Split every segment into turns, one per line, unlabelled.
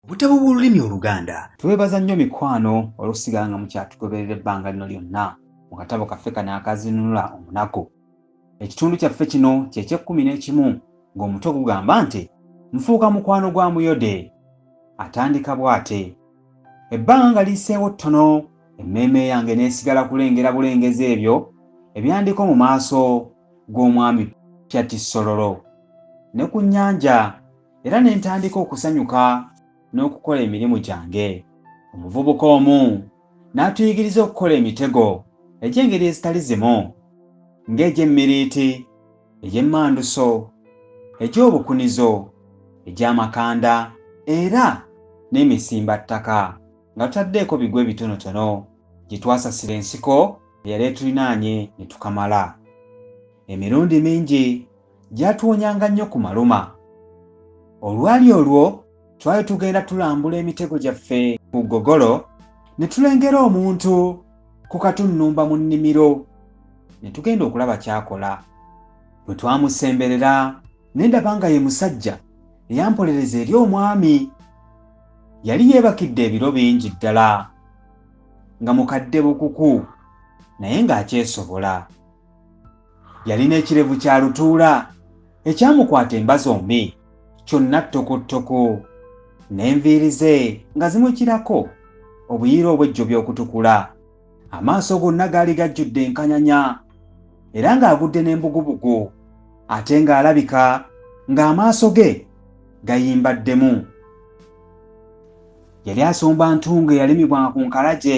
Obutabo bw'olulimi Oluganda. Twebaza nnyo
mikwano olw'okusigala nga mukyatugoberera ebbanga lino lyonna mu katabo kaffe kano akazinunula omunaku. Ekitundu kyaffe kino kye ky'ekkumi n'ekimu ng'omutwe gugamba nti Nfuuka mukwano gwa Muyode. Atandika bw'ate. Ebbanga nga liyiseewo ttono, emmeeme yange n'esigala kulengera bulengezi ebyo ebyandiko mu maaso g'omwami Pyatissololo ne ku nnyanja era ne ntandika okusanyuka n'okukola emirimu gyange. Omuvubuka omu n'atuyigiriza okukola emitego egy'engeri ezitali zimu, ng'egy'emmiriiti, egy'emmanduso, egy'obukunizo, egy'amakanda, era n'emisimbattaka, nga tutaddeeko bigwo ebitonotono gye twasasira ensiko eyali etulinaanye ne tukamala. Emirundi mingi gyatuwonyanga nnyo ku maluma. Olwali olwo twali tugenda tulambula emitego gyaffe ku ggogolo ne tulengera omuntu ku katunnumba mu nnimiro ne tugenda okulaba kyakola. Bwe twamusemberera ne ndaba nga ye musajja eyampolereza eri omwami. Yali yeebakidde ebiro bingi ddala nga mukadde bukuku naye ng'akyesobola. Yalina ekirevu kya lutuula ekyamukwata emba zombi kyonna ttokottoko n'enviiri ze nga zimukirako obuyiira obwejjobya okutukula amaaso gonna gaali gajjudde enkanyanya era ng'agudde n'embugubugu ate ng'alabika ng'amaaso ge gayimbaddemu yali asomba ntunga eyalimibwa ku nkalagye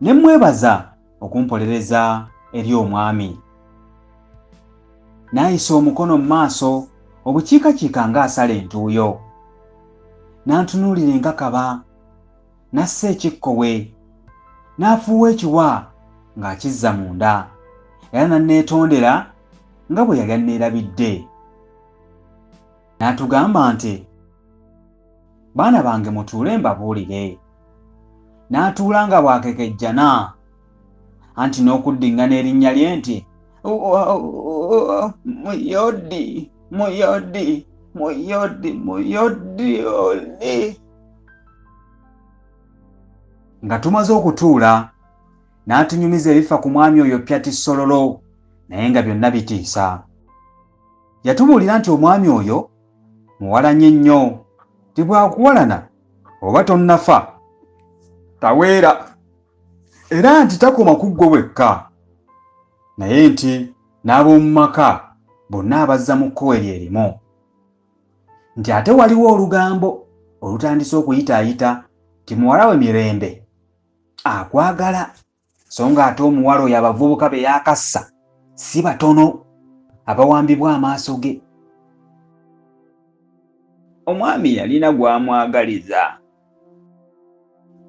ne mmwebaza okumpolereza eri omwami. N'ayisa omukono mu maaso obukiikakiika ng'asala entuuyo. N'antunuulira enkakaba, n'assa ekikkowe, n'afuuwa ekiwa ng'akizza munda, era n'anneetondera nga bwe yali anneerabidde. N'atugamba nti. baana bange mutuule mbabuulire n'atuula nga bw'akekejjana anti n'okuddiŋŋana erinnya lye nti muyodi muyodi muyodi muyodi oli nga tumaze okutuula n'atunyumiza ebifa ku mwami oyo pyati sololo naye nga byonna bitiisa yatubuulira nti omwami oyo muwalanye nnyo nti bwakuwalana oba tonnafa taweera era nti takoma ku ggwe wekka naye nti n'ab'omu maka bonna abazza mu kkowe lye limu nti ate waliwo olugambo olutandise okuyitaayita nti muwala we mirembe akwagala so nga ate omuwala oyo abavubuka be yakassa si batono abawambibwa amaaso ge omwami yalina gwamwagaliza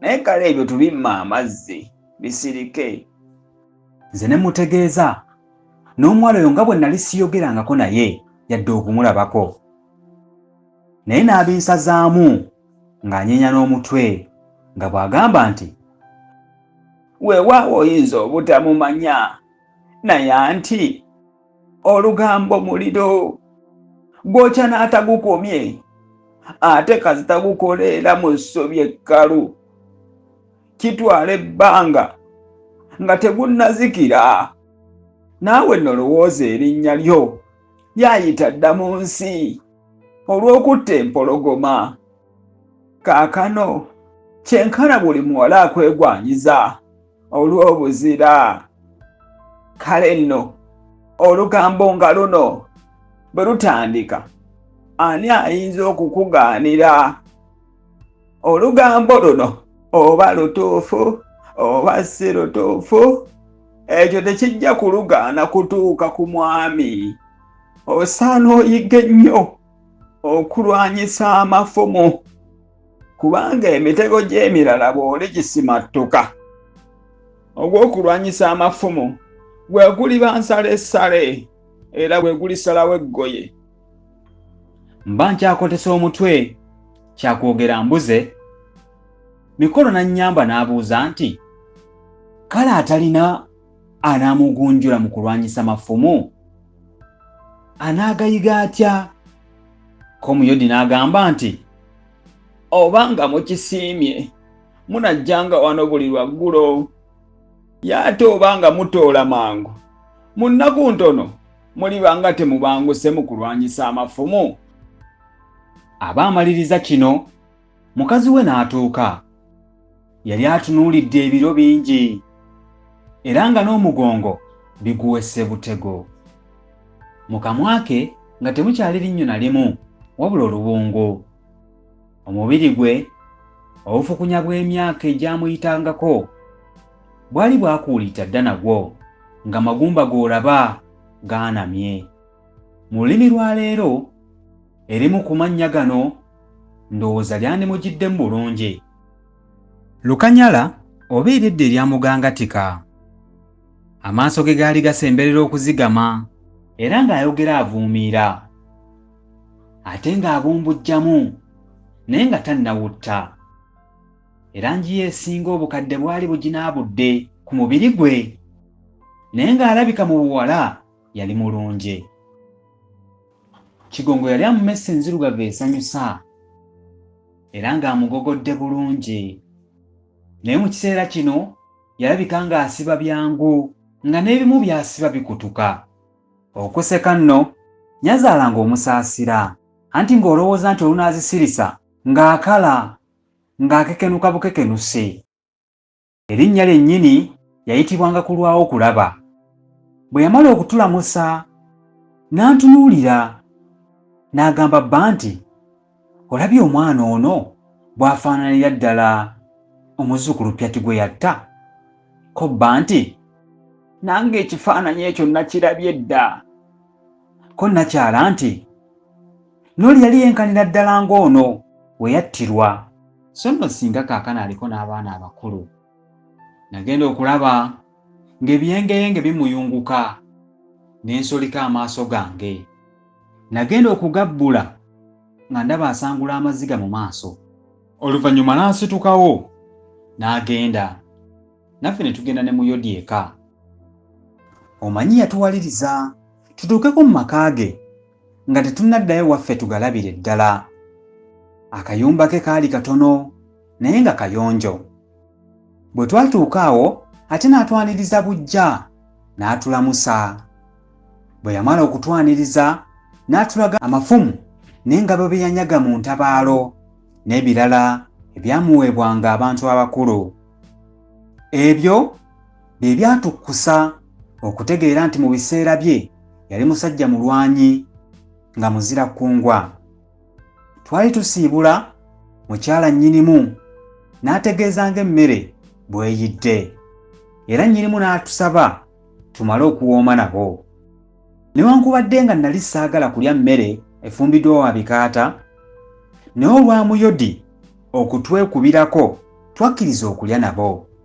naye kale ebyo tubimma amazzi bisirike nze ne mutegeeza n'omuwala oyo nga bwe nali siyogerangako naye yadde okumulabako naye n'abinsazaamu ng'anyeenya n'omutwe nga bw'agamba nti weewaawo oyinza obutamumanya naye anti olugambo muliro gwokya n'atagukomye ate kasita gukoleera mu ssobi ekkalu kitwala ebbanga nga tegunnazikira naawe nolowooza erinnya lyo lyayita dda mu nsi olw'okutta empologoma kaakano kyenkana buli muwala akwegwanyiza olw'obuzira kale nno olugambo nga luno bwe lutandika ani ayinza okukugaanira olugambo luno oba lutuufu oba si lutuufu ekyo tekijja kulugaana kutuuka ku mwami osaana oyige nnyo okulwanyisa amafumu kubanga emitego gy'emirala bw'oli gisimattuka ogw'okulwanyisa amafumu gwe guliba nsala essale era gwe gulisalawo eggoye mba nkyakotesa omutwe kyakwogera mbuze mikolo n'annyamba n'abuuza nti kale atalina anaamugunjula mu kulwanyisa mafumu anaagayiga atya komuyodi n'agamba nti oba nga mukisiimye munajjanga wano buli lwaggulo ye ate oba nga mutoola mangu mu nnaku ntono muliba nga temubanguse mu kulwanyisa amafumu aba amaliriza kino mukazi we n'atuuka yali atunuulidde ebiro bingi era nga n'omugongo biguwese butego mu kamwa ke nga temukyali linnyo na limu wabula oluwungu omubiri gwe obufukunya bw'emyaka egyamuyitangako bwali bwakuulita dda nagwo nga magumba g'olaba gaanamye mu lulimi lwa leero Erimu ku mannya gano ndowooza lyandimugiddemu bulungi. Lukanyala oba ery'edda erya Mugangatika. Amaaso ge gaali gasemberera okuzigama. Era ng'ayogera avuumiira. Ate ng'abumbujjamu naye nga tannawutta. Erangi ye esinga obukadde bwali buginaabudde ku mubiri gwe. Naye ng'alabika mu buwala yali mulungi. Kigongo yalya mu messe enzirugavu esanyusa era ng'amugogodde bulungi. Naye mu kiseera kino yalabika ng'asiba byangu nga n'ebimu by'asiba bikutuka. Okuseka nno Nyazaala ng'omusaasira anti ng'olowooza nti olunaazisirisa ng'akala ng'akekenuka bukekenusi. Erinnya lyennyini yayitibwanga kulwawo kulaba. Bwe yamala okutulamusa n'antunuulira n'agamba bba nti, Olabye omwana ono bw'afaananira ddala omuzzukulu Pyati gwe yatta? Ko bba nti, Nange ekifaananyi ekyo nakirabye dda. Ko nnakyala nti, N'oli yali yenkanira ddala ng'ono we yattirwa. So nno singa kaakano aliko n'abaana abakulu. Nagenda okulaba ng'ebiyengeyenge bimuyunguka ne nsolika amaaso gange. Nagenda okugabbula nga ndaba asangula amaziga mu maaso. Oluvannyuma n'asitukawo n'agenda. Naffe ne tugenda ne mu yodi eka. Omanyi yatuwaliriza tutuukeko mu maka ge nga tetunnaddayo waffe tugalabire ddala. Akayumba ke kaali katono naye nga kayonjo. Bwe twatuuka awo ate n'atwaniriza bujja n'atulamusa. Bwe yamala okutwaniriza n'atulaga amafumu n'engabo bye yanyaga mu ntabaalo n'ebirala ebyamuweebwanga abantu abakulu. Ebyo bye byatukkusa okutegeera nti mu biseera bye yali musajja mulwanyi nga muzira kkungwa. Twali tusiibula mukyala nnyinimu n'ategeeza ng'emmere bweyidde era nnyinimu n'atusaba tumale okuwooma nabo. Newankubadde nga nali saagala kulya mmere efumbiddwa wa bikaata, naye olwa Muyodi okutwekubirako twakkiriza okulya nabo.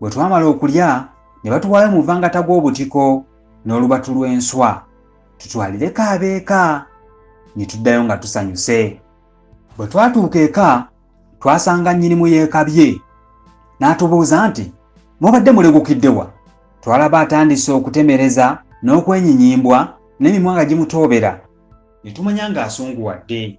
Bwe twamala okulya ne batuwaayo mu muvangata gw'obutiko n'olubatu lw'enswa tutwalireko abeeka ne tuddayo nga tusanyuse. Bwe twatuuka eka twasanga nnyinimu yeekabye n'atubuuza nti mubadde mulegukidde wa? Twalaba atandise okutemereza n'okwenyinyimbwa n'emimwa nga gimutoobera ne tumanya ng'asunguwadde.